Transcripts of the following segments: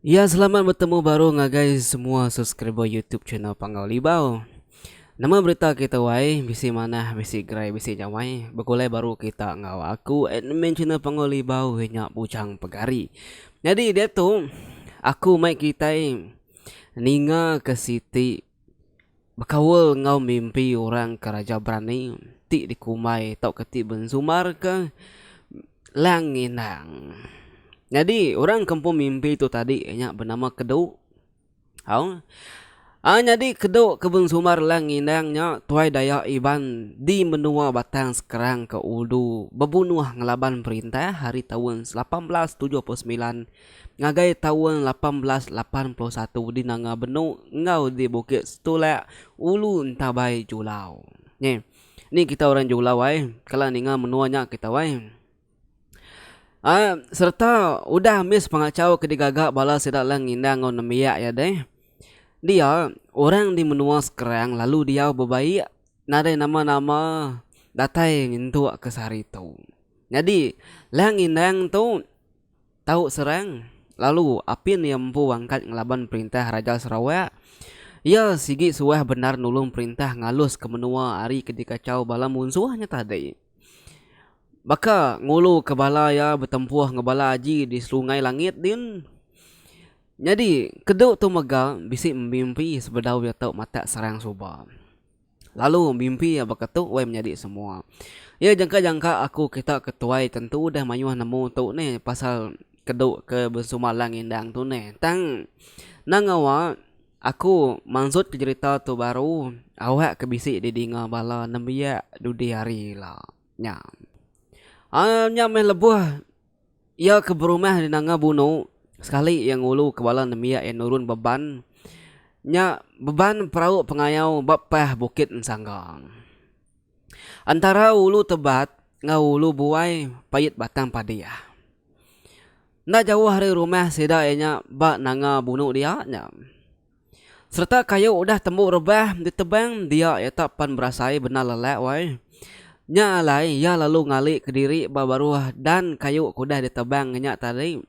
Ya selamat bertemu baru ngagai semua subscriber YouTube channel Panggau Libau. Nama berita kita wai? Bisi manah, bisi gerai, bisi nyamai. Begulai baru kita enggau aku admin channel Panggau Libau nya Bujang Pegari. Jadi dia tu aku mai kitai ninga ke siti Bekaul enggau mimpi orang ke raja berani ti dikumbai tauka ti bensumarka Lang Inang. Nyadi orang kampung mimpi tu tadi nya benama Kedu. Au. A nyadi Kedu ke bensumar Lang Inang nya tuai Dayak Iban di menua Batang Sekerang ke ulu bebunuh ngelaban perintah ari taun lapan belas tujuh puluh semilan Ngagai taun lapan belas lapan puluh satu di Nanga Benu enggau di Bukit Setulak, Ulu Entabai Julau. Ni. Ni kita orang Julau ai. Kala ninga menua nya kita ai. Ai sereta udah mis pengachau ke digaga bala sida lang indah enggau nembiak iya deh. Dia orang di menua Skrang lalu diau bebaik nadai nama-nama datai nyentuk ke sehari tu. Nyadi lang indang tu. Tau Serang, lalu apin iya empu angkat ngelaban perintah Raja Sarawak. Iya sigi suah bendar nulung perintah ngaluska menua ari ke dikachau bala munsuh nya tadi. Baka nguluka bala iya betempuh enggau bala aji di Serungai Langit din. Nyadi, kedu tu mega bisi mimpi sebedau iya tau matak Serang suba. Lalu, mimpi iya baka tu weh menyadi semua. Iya jangka-jangka aku kita ke tuai tentu udah mayuh nemu tu neh pasal kedu ke bensuma lang indang tu neh. Tang nang ngawa aku mansutka jerita tu baru awak ke bisi di dinga bala nembiak dudi hari ila nya. Aa nya meh lebuh. Iya ke berumah di Nanga Bunu sekali iya ngulu ke bala nembiak iya nurun beban nya beban perau pengayau ba pah Bukit Ensanggang. Entara Ulu Tebat enggau Ulu Buai pait batang padih. Enda jauh ari rumah sida iya nya ba Nanga Bunu dia nya. Sereta kayu udah tembu rebah ditebang dia iya tak pan berasai bendar lelak wai. Nya alai iya lalu ngali kediri ba baruh dan kayu ke udah ditebang ngenya tadi.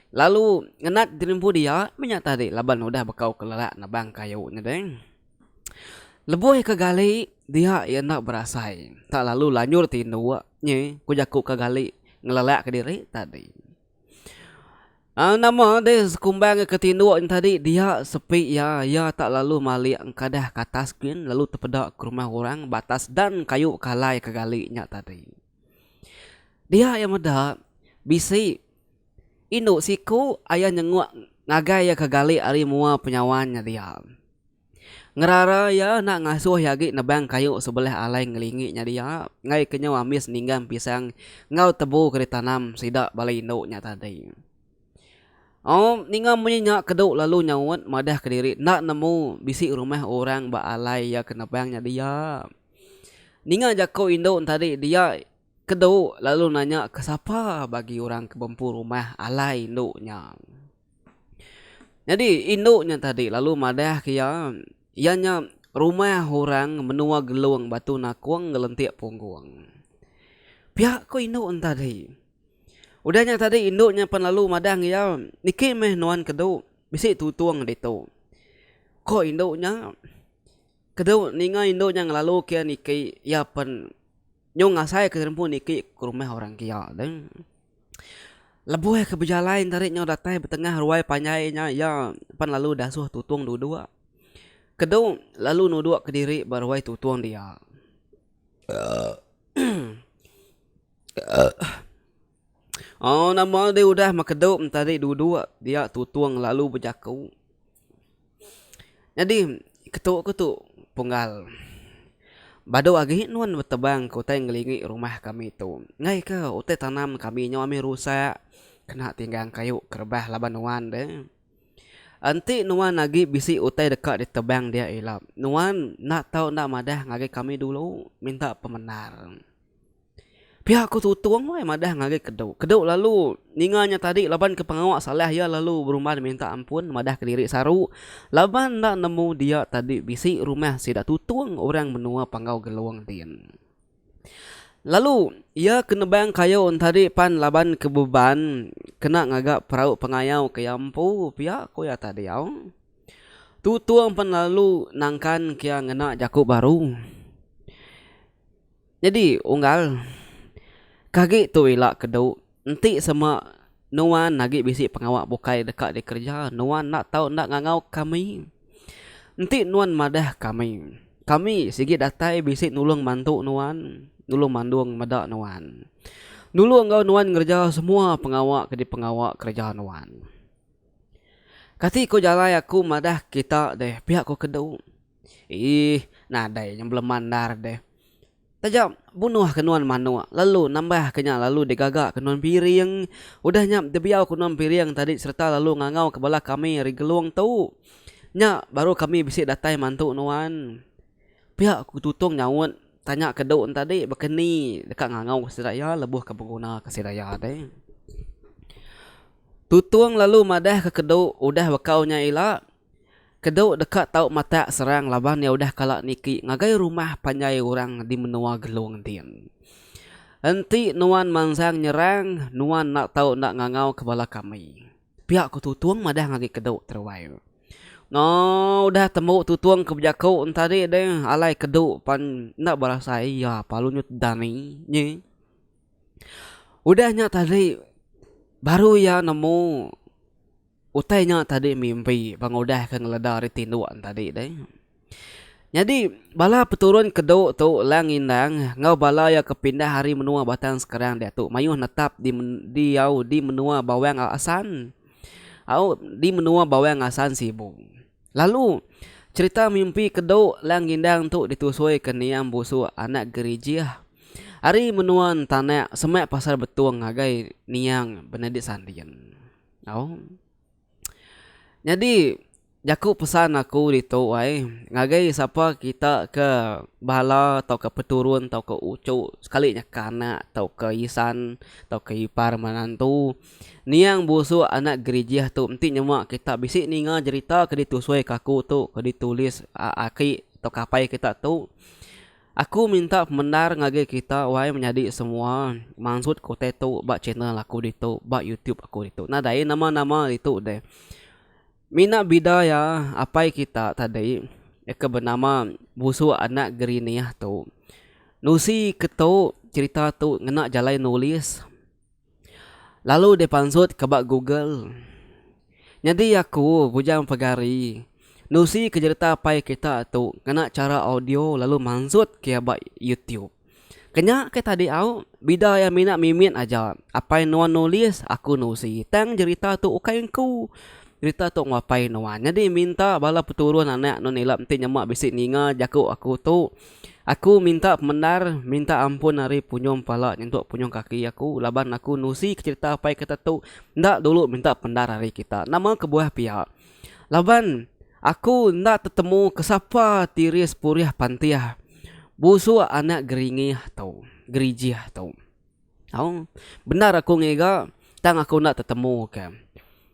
Lalu ngenat jerimpu dia menya tadi laban udah bekau ke lelak nebang kayu nya deh. Lebuh ika gali dia iya enda berasai tak lalu lanjur tindu nyi ku jaku ka gali ngelelak kediri tadi. Aaa nama deh sekumbang ke tinduk nya tadi dia sepi iya, iya tak lalu malik engkadah ke atas gin lalu tepeda ke rumah orang ba atas dan kayu ke alai ke gali nya tadi. Dia iya meda bisi indu siku aye nyenguk ngagai iya ke gali ari mua penyawan nya dia. Ngerara iya enda ngasuh iya agi nebang kayu sebelih alai ngelingi nya dia enggai ke nyau ambis ninggang pisang enggau tebu ke ditanam sida bala indu nya tadi. Au ninga munyi nya kedu lalu nyaut madah kediri enda nemu bisi rumah orang ba alai iya ke nebang nya dia. Ninga jaku indu ne tadi dia kedu lalu nanya ke sapa bagi orang ke bempu rumah alai indu nya. Nyadi indu nya tadi lalu madah ke iya, iya nya rumah orang menua Gelong Batu Nakong ngelentik Punggong. Pia ko indu nya tadi. Udah nya tadi indu nya pen lalu madah ngan iya, niki meh nuan kedu bisi tutong ditu. Ko indu nya. Ketu ninga indu nya ngelalu ke niki iya pen nyung ngasai ke rempu niki ke rumah orang kia deh. Lebuh ke bejalai enda ri nyau datai betengah ruai panjai nya iya pan lalu dasuh tutung duduk. Ketu lalu nuduk kediri ba ruai tutung dia. Oh nama deh udah makedup entari duduk dia tutung lalu bejaku. Nyadi ketu ku tu punggal badu agi nuan betebang ke utai ngelingi rumah kami tu enggai ke utai tanam kami nyau ami rusak kena tinggang kayu ke rebah laban nuan deh. Enti nuan agi bisi utai deka ditebang dia ila nuan enda tau enda madah ngagai kami dulu minta pemendar. Pia ku Tutung wai madah ngagai Kedu. Kedu lalu ninga nya tadi laban ke pengawa salah iya lalu berumban minta ampun madah kediri saru laban enda nemu dia tadi bisi rumah sida Tutung orang menua Panggau Gelong din. Lalu iya ke nebang kayu entadi pan laban ke beban kena ngaga perau pengayau ke iya empu pia ku iya tadi au. Tutung pan lalu nangkan ke iya ngena jaku baru. Nyadi unggal ke agi tu ila ke dau enti sema nuan agi bisi pengawa bukai deka dikereja nuan enda tau enda ngangau kami enti nuan madah kami kami sigi datai bisi nulung bantu nuan nulung mandung meda nuan nulung enggau nuan ngereja semua pengawa ke dipengawa kereja nuan kati ko jalai aku madah kita deh pia ko ke dau. Iih, nadai nya belema endar deh. Taja bunuh ke nuan manok lalu nambah ke nya lalu digaga ke nuan piring. Udah nya dibiau ke nuan piring tadi sereta lalu ngangau ke bala kami ari Gelong tu. Nya baru kami bisi datai mantu nuan. Pia ku Tutong nyaut tanya ke Dong tadi baka ni deka ngangau sida iya lebuh ke beguna ke sida iya deh. Tutong lalu madah ke Dong udah bekau nya ila Kedu deka tau matak serang laban iya udah kala niki ngagai rumah panjai orang di menua Gelong din. Enti nuan mansang nyerang, nuan enda tau enda ngangau ke bala kami. Pia ku Tutung madah ngagai Kedu Teruai. No udah tembu Tutung ke bejaku entadi de, alai Kedu pan enda berasai iya palu nyut dani nyi. Udah nya tadi baru iya nemu. Utai nya tadi mimpi bang udah ke ngeleda ari tinduk en tadi deh. Nyadi bala peturun kedu tu Lang Indang enggau bala iya ke pindah ari menua Batang Sekerang diatu mayuh netap di diau di menua Bawang Asan au di menua Bawang Asan Sibu. Lalu cherita mimpi kedu Lang Indang tu ditusui ke Niam Busuk anak Gerijih ari menua Entanak semak pasal betung ngagai Niang Benedik Sanding. Au. Nyadi jaku pesan aku ditu ai ngagai sapa kita ke bala tauka peturun tauka uchu sekali nya kanak tauka isan tauka ipar menantu niang busu anak gerijih tu enti nyema kita bisi ninga jerita ke ditusui ke aku tu ke ditulis aki tauka apai kita tu. Aku minta pemendar ngagai kita wai menyadi semua mansut kutai tu ba channel aku ditu ba YouTube aku ditu nadai nama nama ditu deh mina bida ya apai kita tadi ke benama busuk anak gerinih tu nusi ke tu cerita tu ngena jalai nulis. Lalu dipansut ka ba Google. Nyadi aku bujang pegari nusi ke jereta pai kita tu ngena chara audio lalu mansut ke iya ba YouTube. Kenya ke tadi au, bida iya mina mimit aja. Apai nuan nulis, aku nusi. Tang jerita tu ukai engku. Jerita tu enggau apai nuan. Nyadi minta bala peturun anak nuan ila enti nyema bisi ninga jaku aku tu. Aku minta pemendar, minta ampun ari punyung pala nyentuk punyung kaki aku laban aku nusi ke cherita apai kita tu enda dulu minta pemendar ari kita. Nama kebuah pia? Laban aku enda tetemu ke sapa tiris purih pantih busuk anak geringih tu, gerijih tu. Au, bendar aku ngiga, tang aku enda tetemuka.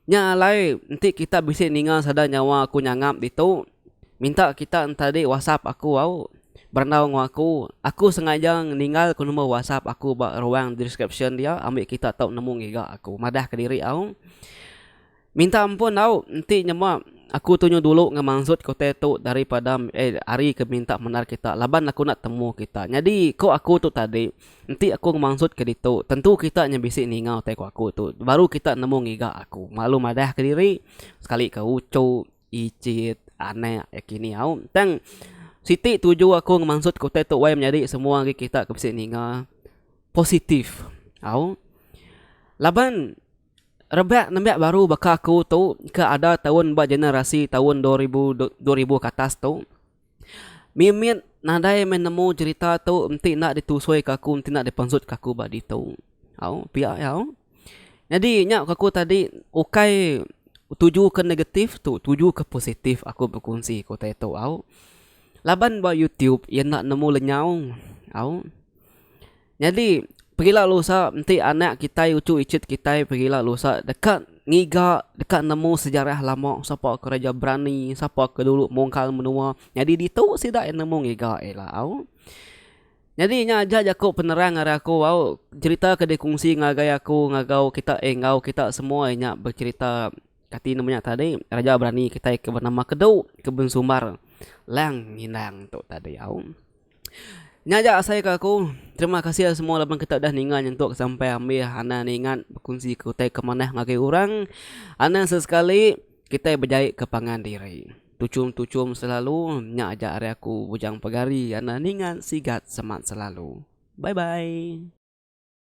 Nya alai, enti kita bisi ninga sada nyawa aku nyangap ditu, minta kita entadi whatsapp aku au. Berandau enggau aku, aku sengaja ninggalka number whatsapp aku ba ruang deskripsyen dia ambi kita tau nemu ngiga aku, madah kediri au. Minta ampun au, enti nyema aku tunyu dulu ngemansut kutai tu daripada ari ke minta mendar kita laban aku enda temu kita. Nyadi ko aku tu tadi, enti aku ngemansut ke ditu, tentu kita nya bisi ninga utai ko aku tu baru kita nemu ngiga aku. Lalu madah ke diri, sekali ke uchu, icit, anak iya kini au. Tang siti tuju aku ngemansut ke utai tu wai menyadi semua agi kita ke bisi ninga positif au. Laban. Rebak nembiak baru baka aku tu ke ada taun ba generasi taun dua ribu dua ribu ke atas tu mimit nadai meh nemu cherita tu enti enda ditusui ke aku enti enda dipensutka aku ba ditu au pia iya au nyadi nya ku aku tadi ukai tuju ke negatif tu tuju ke positif aku bekunsi ku utai tu au laban ba youtube iya enda nemu lenyau au. Nyadi, perila lusa enti anak kitai uchu ichit kitai perila lusa deka ngiga, deka nemu sejarah lama sapa ke reja berani, sapa ke dulu mungkal menua. Nyadi ditu sida iya nemu ngiga ila au. Nyadi nya aja jaku penerang ari aku au, cherita ke dikongsi ngagai aku ngagau kita eh enggau kita semua nya becherita kati nama nya tadi reja berani kitai ke benama Kedu ke bensumbar Lang Nginang tu tadi au. Nya aja asai ke aku. Terima kasih semua laban kita udah ninga nyentuk sampai ambih anang ingat bekunsi ke utai ke manah ngagai orang. Anang sesekali kitai bejai ke pangan diri. Tuchum-tuchum selalu nya aja ari aku Bujang Pegari anang ninga sigat semat selalu. Bye bye.